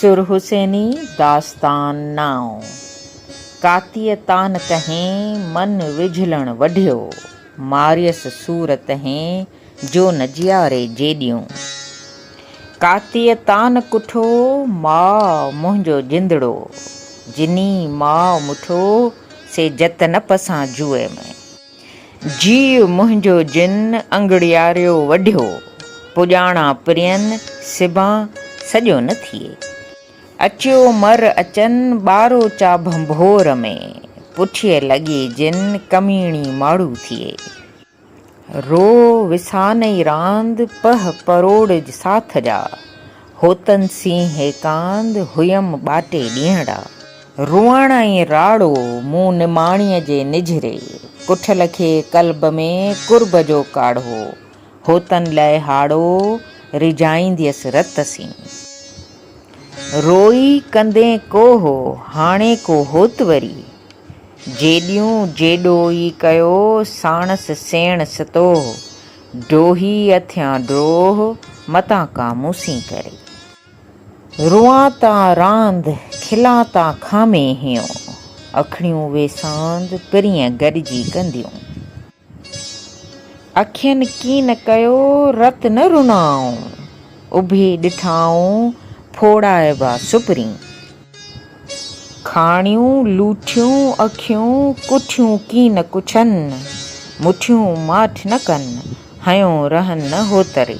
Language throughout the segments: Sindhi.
سر حسيني داستان نائو ڪاتيء تان ڪهين من وجهلڻ وڍيو ماريس سور تهين جو نه جياري جيڏيون ڪاتيء تان ڪٺو ماء منهنجو جندڙو جني ماء مٺو سي جت نه پسان جوء ۾. جيء منهنجو جن انگڙياريو وڍيو، پڄاڻا پرين سبان سڄو نه ٿئي. اچيو مر اچن ٻارو چا ڀنڀور ۾، پٺيء لڳي جن ڪميڻي ماڙهو ٿئي. رو وسانئي راند پهه پروڙج ساٿ جا، هوتن سين هيڪاند هئم ٻاٽي ڏينهڙا. روئڻ ۽ راڙو مون نماڻيء جي نجهري ڪٺل کي قلب ۾ قرب جو ڪاڙهو هوتن لئه هاڙو ريجهائينديس رت سين روئي ڪندين ڪوه هاڻي ڪو هوت وري جيڏيون جيڏو ئي ڪيو ساڻس سيڻ ستوه ڊوهي اٿيان ڊوه متان ڪا مون سين ڪري. روئان تان راند، کلان تان خامي هيون. اکڙيون ويساند، پرينء گڏجي ڪنديون. اکين ڪين ڪيو، رت نه رنائون. اڀي ڏٺائون، ڦوڙائبا سپرين. کاڻيون لوٺيون اکيون، ڪٺيون ڪين ڪڇن. مٺيون ماٺ نه ڪن، هنيون رهن نه هوتري.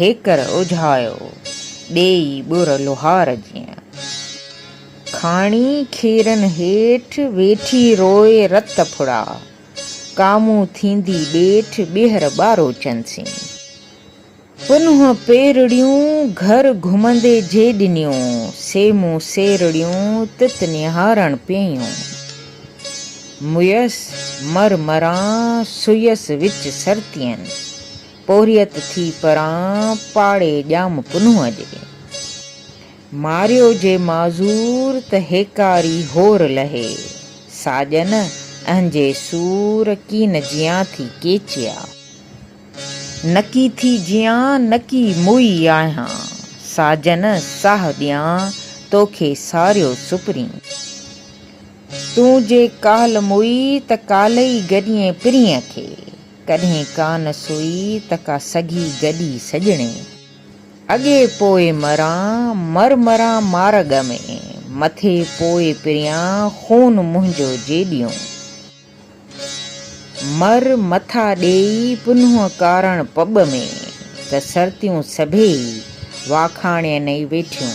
هيڪر اجهايو ڏيئي ٻر لوهار جيئن. کاڻي کيرن هيٺ ويٺي روئي رت ڦڙا. ڪامون ٿيندي ڏيٺ ٻيهر ٻارو چنسين. پنهون پيرڙيون گهر گهمندي جي ڏنيون. سيمون سيرڙيون تت نهارڻ پيئيون. مئيس مر مران سئيس وچ سرتين. پورهيت ٿي پران پاڙي ڄام پنهونء جي. ماريو جي معذور ته هيڪاري هور لهي. ساڄن اهنجي سور ڪين جيان ٿي ڪيچيا. نڪي ٿي جيان نڪي موئي آهيان. ساڄن ساهه ڏيان توکي ساريو سپرين. تون جي ڪالهه موئي ته ڪالهه ئي گڏيين پرينء کي. ڪڏهن ڪا نه سوئي ته ڪا سگهي گڏي سڄڻي اڳي پوء مران مر مران مارڳ ۾ مٿي پوء پريان خون منهنجو جيڏيون مر مٿا ڏيئي پنهون ڪارڻ پٻ ۾ ته سرتيون سڀيئي واکاڻين ئي ويٺيون.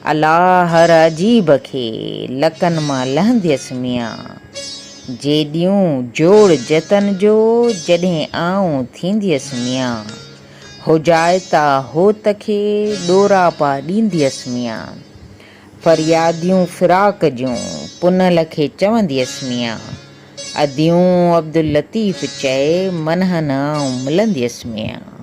الا هر عجيب کي لڪن مان لهنديس ميان جي ڏيون جوڙ جتن جو جڏهن آئون ٿينديس ميان هوجائتا هوت کي ڏوراپا ڏينديس ميان فرياديون فراق جون پنهل کي چونديس ميان اديون عبداللطيف چئي منهن نه آئون ملنديس ميان.